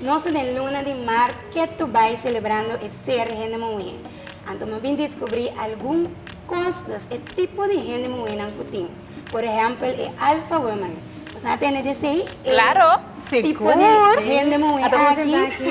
Nos ta den luna di mart ke to bai selebrando e ser di hende muhé. Anto mi a bin diskubrí algun kos nos e tipo di hende muhénan ku tin. Por ehèmpel e Alpha Women. Nos a tende dje esei? Claro! Sigur! Ata bo senta aki?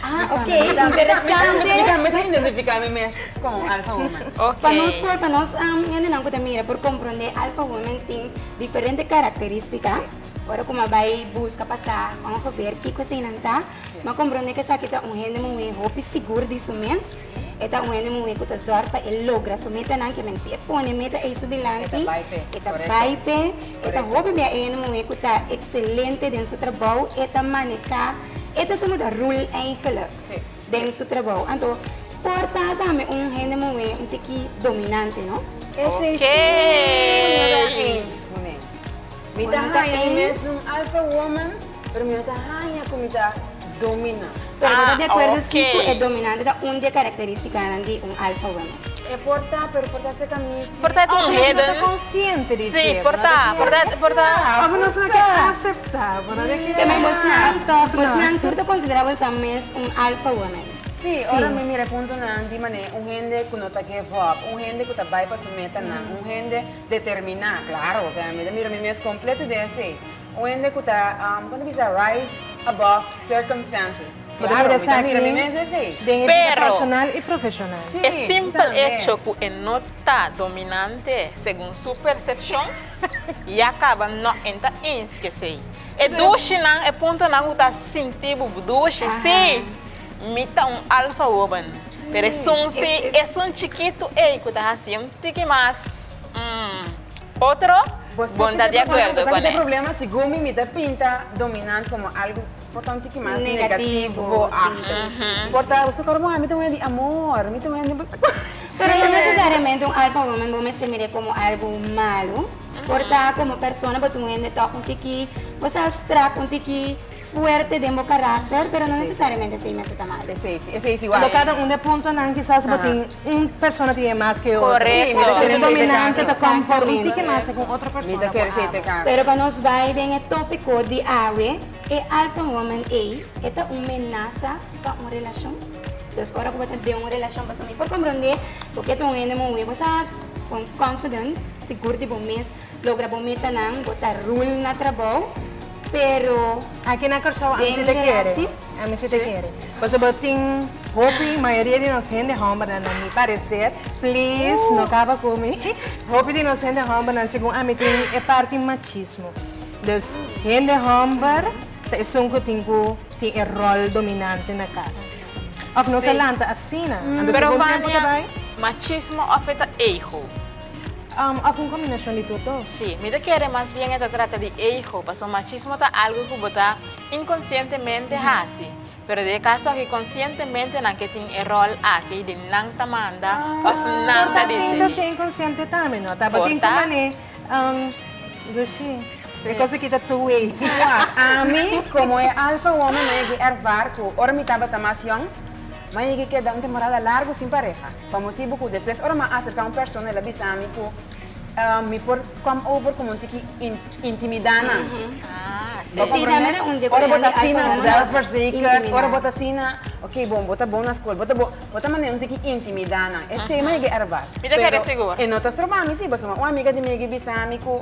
Ah, ok. Interesante. Mi ta mi ta identifica mi mes con un Alpha Woman. Ok. Pa nos por pa nos gentenan cu ta mira por comprende Alpha Woman tin diferente caracteristica. Ora cu mi a bay busca pa sa ongeveer kico eseinan ta, mi a comprende cu esaki ta un hende muhee hopi sigur di su mes. E ta un hende muhé ku ta zòrg pa e logra su metanan, ke men si e pone e meta ei su dilanti, e ta bai p'e. E ta hopi bia e hende muhé ku ta ekselente den su trabou, e ta maneká, e ta somo ta rul eigenlik den su trabou. Anto por ta tambe un hende muhé un tiki dominante, no? Esei sí mi no ta hens ku nan. Mi ta haña di mes un alfa woman. Pero mi no ta haña cu mi ta domina. Pero bo ta di acuerdo si cu e dominante ta un di e caracteristicanan di un alfa woman? E por ta, pero por ta ser ca mi si. Por ta di un hidden. Abo no ta consciente di dje. Si, por ta, por ta, por ta. Abo nos no ke acepta. Bo no ke acepta. Tambe bosnan, bosnan tur ta considera bosan mes un alfa woman? Si, ora mi mira e puntonan di manera un hende cu no ta give up, un hende cu ta bay pa su metanan, un hende determina. Claro, mi ta mira mi mes completo den esey. Un hende ku ta, kon ta bisa, rise above circumstances. Bo ta mira esaki den e bida personal i profeshonal. E simpel echo ku e no ta dominante segun su persepshon ya kaba nok en ta ins ku esei. E dushinan, e puntonan ku ta sinti bo bo dushi, sí, mi ta un alfa woman, pero esun sí, esun chikitu ei ku ta hasi un tiki mas, mm. Otro, Bo no ta di acuerdo cu e. Si Gumi mi ta pinta dominant como algo por ta un tiki mas negativo bo acto. Por ta su cara bo ami ta un hende di amor, mi ta un hende di pasa cosa. Pero no necesariamente un Alfa Woman bo mester mire como algo malo. Por ta como persona bo ta un hende tok un tiki bo sa strak un tiki. Fuerte den bo karakter, pero no nesesariamente esei mester ta mal. Esei si, esei si wak. Lo cada un di e puntonan kisas bo tin un persona tin e mas ku e otro. Korekto. Pero ta ser dominante ta kom for un tiki mas segun otro Mi ta persona ser ku esei te amo. kansa. Pero pa nos bai den e tópiko di awe, e Alpha Woman ei, e ta un menasa pa un relashon? Entonces ora ku bo ta den un relashon, pasobra mi por komprondé ku ke ta un hende muhé, bo sa kon confident, sigur di bo mes, Logra bo metanan, bo ta rul na trabou, pero. Aki na Kòrsou ami si ta kere, ami si ta kere. Pasobra tin hopi, mayoria di nos hende hòmbernan, na mi pareser, please no kaba ku mi, hopi di nos hende hòmbernan segun ami tin e parti machismo. Dus hende hòmber ta esun ku tin ku tin e ròl dominante na kas. Òf nos a lanta asina. Anto segun tempu ta bai. Pero Vania, machismo òf e ta ego? Am, afo un kombinashon di tur to. Sí, mi ta kere mas bien e ta trata di ego, paso machismo ta algo ku bo ta inkonsientemente hasi. Pero den e kaso aki konsientemente nan ke tin e ròl aki di nan ta manda òf nan ta desidí. Por ta tin ta ser inkonsiente tambe, no? Tabatin ku manera, am, Gushi, e kos aki ta two way. Igual, ami komo e alfa woman m'ai yeg'é ervare ku ora mi tabata mas yòn, m'ai yeg'é keda un temporada largu sin pareha. Pa motibu cu despues ora m'a acerca un persona el a bisa mi cu mi por come over como un tiki intimida nan. Bo comprende? Ora bo ta asina zelfverzekerd, ora bo ta asina oké bon bo ta bon na school, bo ta bon, bo ta manera un tiki intimida nan. Esey mi a yega ervar, pero e no ta stroba mi si pasobra un amiga di mi a yega bisa mi cu.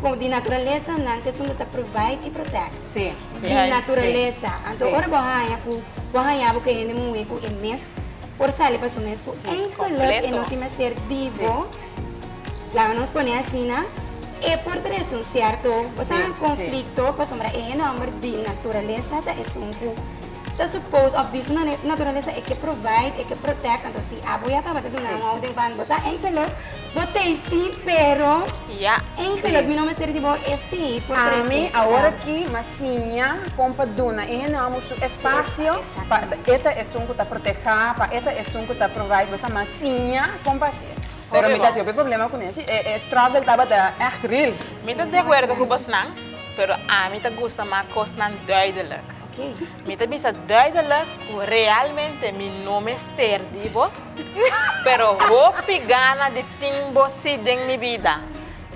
Como di naturaleza nan ta esun bo ta provide y protect. Sí, sí. Di naturaleza. Anto ora bo haña cu bo haña bo cu e hende muhe cu e mes por sali pa su mes cu enkel luk e no tin mester di bo, laga nos pone asina, e por trae esun cierto, bo sa, conflicto pasobra e hende homber di naturaleza ta esun cu ta supposed of di su naturaleza e ke provide, e ke protect. Anto si abo ya tabata duna un houding van bo sa enkel luk. Bo tei si pero Ya, Ein si. Selot mi no mester di bo e si por trece. Ami awor aki m'a siña kon pa duna e hende hombru su espacio pa e ta esun ku ta proteha, pa e ta esun ku ta provide bosa. M'a siña kon pa hasi e. Pero mi ta tin hopi problema ku nesei. E e struggle tabata ègt real. Mi ta de acuerdo ku bosnan, pero ami ta gusta m'a kosnan duidelijk. Oké. Mi ta bisa duidelijk cu realmente mi no mester di bo, pero hopi gana di tin bo si den mi bida.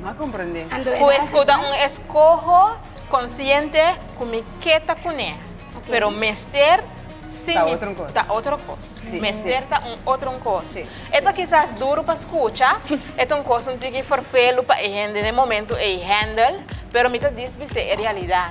M'a comprende. Cu escu ta un escoho consciente cu mi ke ta cune, pero mester si mi ta otro cos. Mester ta un otro cos. E ta kisas duro pa scucha, e ta un cos un tiki forfelu pa e hende den momento ey handle, pero mi ta diz bis'e e realidad.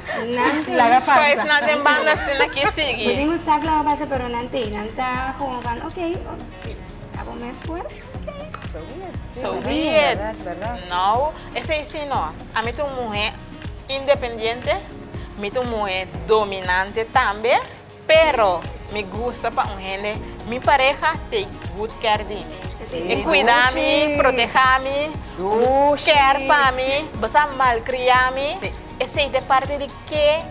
Nan tin. Laga pasa. Swipe nan den banda así nan kier sigui. Bo tin un sak laga pasa pero nan tin. Nan ta gewoon van ok, si abo mes por ok. So be it. So be it. Verdad, verdad. No, esei si no. Ami ta un muhe independiente, mi ta un muhe dominante tambe. Pero mi gusta pa un hende, mi pareha take good care di mi. E cuida mi, proteha mi, care pa mi, basa malcria mi, esey ta e parti di ke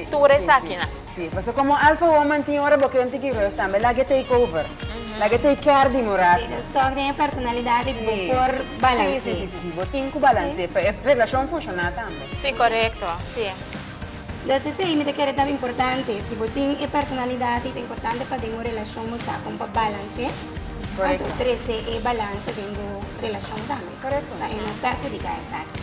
tur esaki nan. Si, pasobra como alfa woman tin ora bo ken tiki rust tambe, lague take over, lague take care di mi un rato. Tin un stock den e personalidad di bo por balance. Si, si, si, si, si, bo tin cu balance pa e relacion funciona tambe. Si, corecto, si. Los esei mi ta kere taba importante. Si bo tin e personalidad y ta importante pa den bo relacion bo sa con pa balance anto trece e balance den bo relacion tambe pa e no perjudica esaki.